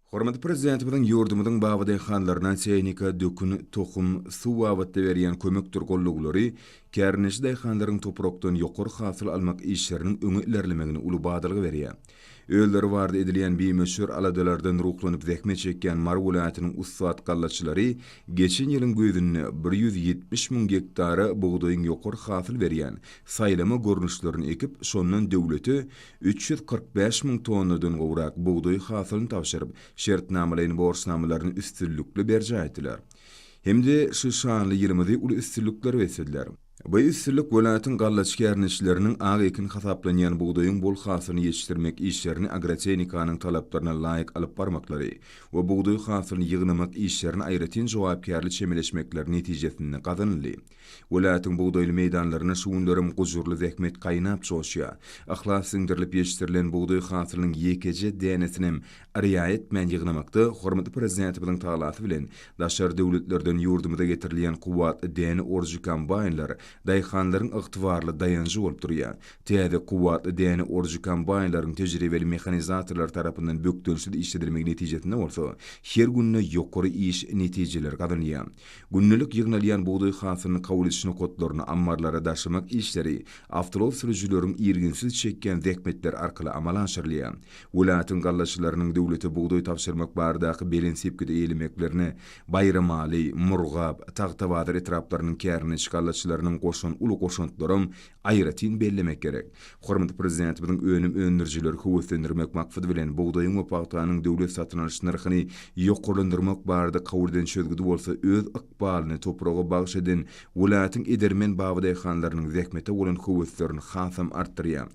Hormatly Prezidentimiziň ýurdumyzyň baba daýhanlaryna tehnika, dökün, tohum, suw babatda berýän kömekdir goldawlary kärendeçi daýhanlaryň toprakdan ýokary hasyl almak işleriniň öňe ilerlemegine uly badalga berýär. Özleri barada edilýän bimöçber aladalardan ruhlanyp zähmet çekýän Mary welaýatynyň ussat gallaçylary geçen ýylyň güýzünde bir ýüz ýetmiş müň gektara bugdaýyň ýokary hasyl berýän saýlama görnüşlerini ekip, şondan döwlete üç ýüz kyrk bäş müň tonnadan gowrak bugdaý hasylyny tabşyryp, şertnamalaýyn borçnamalaryny üstünlikli berjaý etdiler hem-de şu şanly ýylymyzy uly üstünliklere beslediler. Bu üstünlik welaýatyň gallaçy kärndeçileriniň ak ekin hasaplanýan bugdaýyň bol hasylyny ýetişdirmek işlerini agrotehnikanyň talaplaryna laýyk alyp barmaklary we bugdaý hasylyny ýygnamak işlerine aýratyn jogapkärli çemeleşmekleri netijesinde gazanyldy. Welaýatyň bugdaýly meýdanlarynda şu günlerem gujurly zähmet gaýnap joşýar. Yhlas siňdirilip ýetişdirilen bugdaý hasylynyň ýekeje dänesinem riaýa etmän ýygnamakda hormatly Prezidentimiziň talasy bilen daşary döwletlerden ýurdumyza getirilýän kuwwatly däne oruji kombaýnlar daýhanlaryň ygtybarly daýanjy bolup durýar. Täze kuwwatly däne oruji kombaýnlaryň tejribeli mehanizatorlar tarapyndan bökdençsiz işledilmegi netijesinde bolsa her günde ýokary iş netijeleri gazanylýar. Gündelik ýygnalýan bugdaý hasylyny kabul ediş nokatlaryna, ammarlara daşamak işleri awtoulag sürüjileriň irginsiz çekýän zähmetleri arkaly amala aşyrylýar. Welaýatyň gallaçylarynyň döwlete bugdaý tabşyrmak baradaky belent sepgidi eýelemeklerine Baýramaly, Murgap, Tagtabazar etraplarynyň kärine gallaçylarynyň goşan uly goşantlaram Aýratyn bellemek gerek, hormatly Prezidentimiziň önüm öndürijileri höweslendirmek maksady bilen bugdaýyň we pagtanyň döwlet satyn alyş nyrhyny ýokarlandyrmak barada kabul eden çözgüdi bolsa öz ykbalyny topraga bagyş eden welaýatyň edermen babadaýhanlarynyň zähmete bolan höweslerini hasam artdyrýar.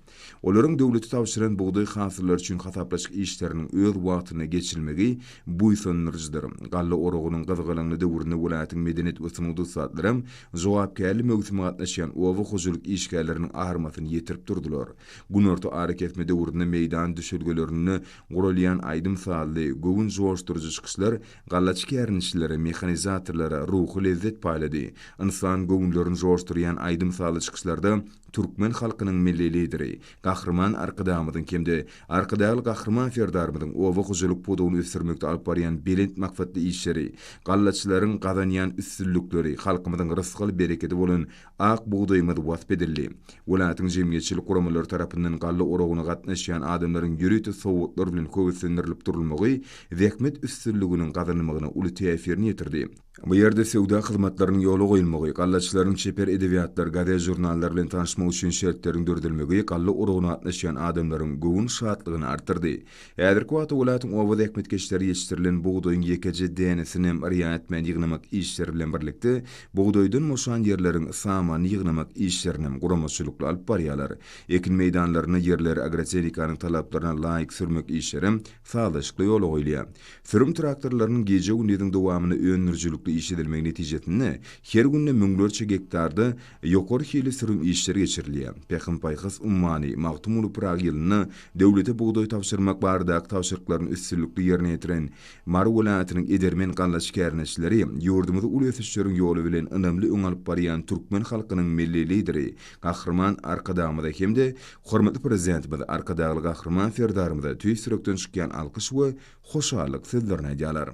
Olaryň döwlete tabşyran bugdaý hasyllary üçin hasaplaşyk işleriniň öz wagtynda geçirilmegi buýsandyryjydyr. Galla oragynyň gyzgalaňly döwründe welaýatyň medeniýet we sungat ussatlaram jogapkärli möwsüme gatnaşýan oba hojalyk işgärleriniň armasyny ýetirip durdular. Günorta arakesme döwründe meýdan düşelgelerinde guralýan aýdym-sazly, göwün joşduryjy çykyşlar gallaçy kärendeçilere, mehanizatorlara ruhy lezzet paýlady. Ynsan göwünlerini joşdurýan aýdym-sazly çykyşlarda türkmen halkynyň Milli Lideri, Gahryman Arkadagymyzyň hem-de Arkadagly Gahryman Serdarymyzyň oba hojalyk pudagyny ösdürmekde alyp barýan belent maksatly işleri, gallaçylaryň gazanýan üstünlikleri, halkymyzyň rysgal-berekedi bolan ak bugdaýymyz wasp edildi. Welaýatyň jemgyýetçilik guramalary tarapyndan galla oragyna gatnaşýan adamlaryň ýörite sowgatlar bilen höweslendirilip durulmagy zähmet üstünliginiň gazanylmagyna uly täsirini ýetirdi. Bu ýerde söwda hyzmatlarynyň ýola goýulmagy, gallaçylaryň çeper edebiýatlar, gazet-žurnallar bilen tanyşmak üçin şertleriň döredilmegi galla urugyna gatnaşýan adamlaryň göwün şatlygyny artdyrdy. Häzirki wagtda welaýatyň oba zähmetkeşleri ýetişdirilen bugdaýyň ýekeje dänesini hem yrýan etmän ýygnamak işleri bilen birlikde, bugdaýdan boşan ýerleriň samanyny ýygnamak işlerini hem guramaçylykly alyp barýarlar. Ekin meýdanlarynda ýerleri agrotehnikanyň talaplaryna laýyk sürmek işlerem sazlaşykly ýola goýulýar. Sürüm traktorlarynyň gije-gündiziň dowamynda öndürijilikli iş edilmegi netijesinde her günde müňlerçe gektarda ýokary hilli sürüm işleri geçirilýär. Pähim-paýhas ummany Magtymguly Pyragy ýylynda döwlete bugdaý tabşyrmak baradaky tabşyryklaryny üstünlikli ýerine ýetiren Mary welaýatynyň edermen gallaçy kärneşileri ýurdumyzy uly ösüşleriň ýoly bilen ynamly öňe alyp barýan türkmen halkynyň Milli Lideri Gahryman Arkadagymyza hem-de Hormatly Prezidentimiz Arkadagly Gahryman Serdarymyza tüýs ýürekden çykýan alkyş we hoşallyk sözlerini aýdýarlar.